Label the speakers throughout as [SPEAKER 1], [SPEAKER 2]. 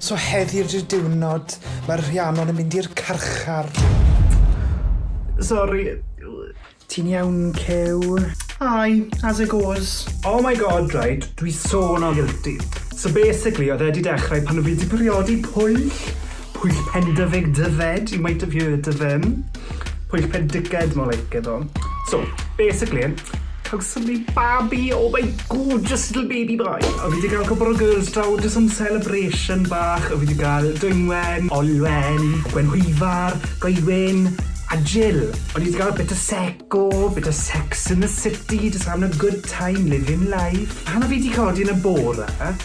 [SPEAKER 1] So heddi ydi'r diwrnod, mae'r Rhiannon yn mynd i'r carchar.
[SPEAKER 2] Sori. Ti'n
[SPEAKER 1] iawn, Cyw? Aye,
[SPEAKER 2] as it goes. Oh my God, right, dwi so not guilty. So basically, oedd e 'di dechrau pan o' fi 'di briodi Pwyll. Pwllpen Dyfed Dyfed, you might have heard of him. Pwllpen Dickhead, more like it though. So, basically, cawsom ni babi, oh my gorgeous little baby boy. A fi wedi cael cwpl o girls draw, just some celebration bach. A fi wedi cael Dwynwen, Olwen, Gwenhwyfar, Goewin, a Jill. O'n i wedi cael bit o seco, bit o sex in the city, just having a good time, living life. Pan o fi wedi codi yn y bore,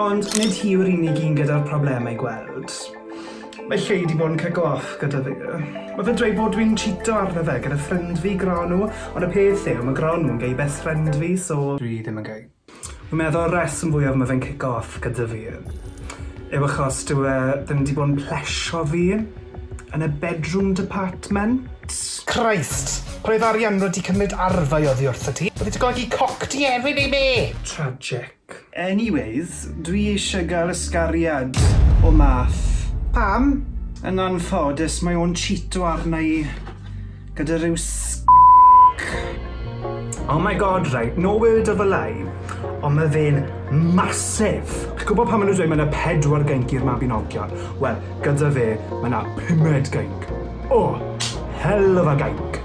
[SPEAKER 1] Ond
[SPEAKER 2] nid hi yw'r unig un gyda'r problemau gweld. Mae Lleu 'di bod yn cico off gyda fi. Mae fe'n dweud bod dwi'n chîto arno fe gyda ffrind fi, Gronw, ond y peth yw, mae Gronw yn gei best friend fi, so dwi ddim yn gei. Fi'n meddwl y rheswm fwyaf mae fe'n cico off gyda fi yw achos dyw e ddim 'di bod yn plesio fi yn y bedroom department. Christ!
[SPEAKER 1] Pan oedd Arianrhod 'di cymryd arfau oddi wrtho ti, oedd 'i 'di godi coc ti hefyd, neu be? Tragic.
[SPEAKER 2] Anyways, dwi eisiau gael ysgariad o Math. Pam? Yn anffodus, mae o'n chîto arna i gyda rhyw sgc. Oh my God, right, no word of a lie, ond mae fe'n massive! Chi'n gwybod pan maen nhw'n dweud mae yna pedwar geinc i'r Mabinogion? Wel, gyda fe, mae yna pumed geinc. Oh! Hell of a geinc!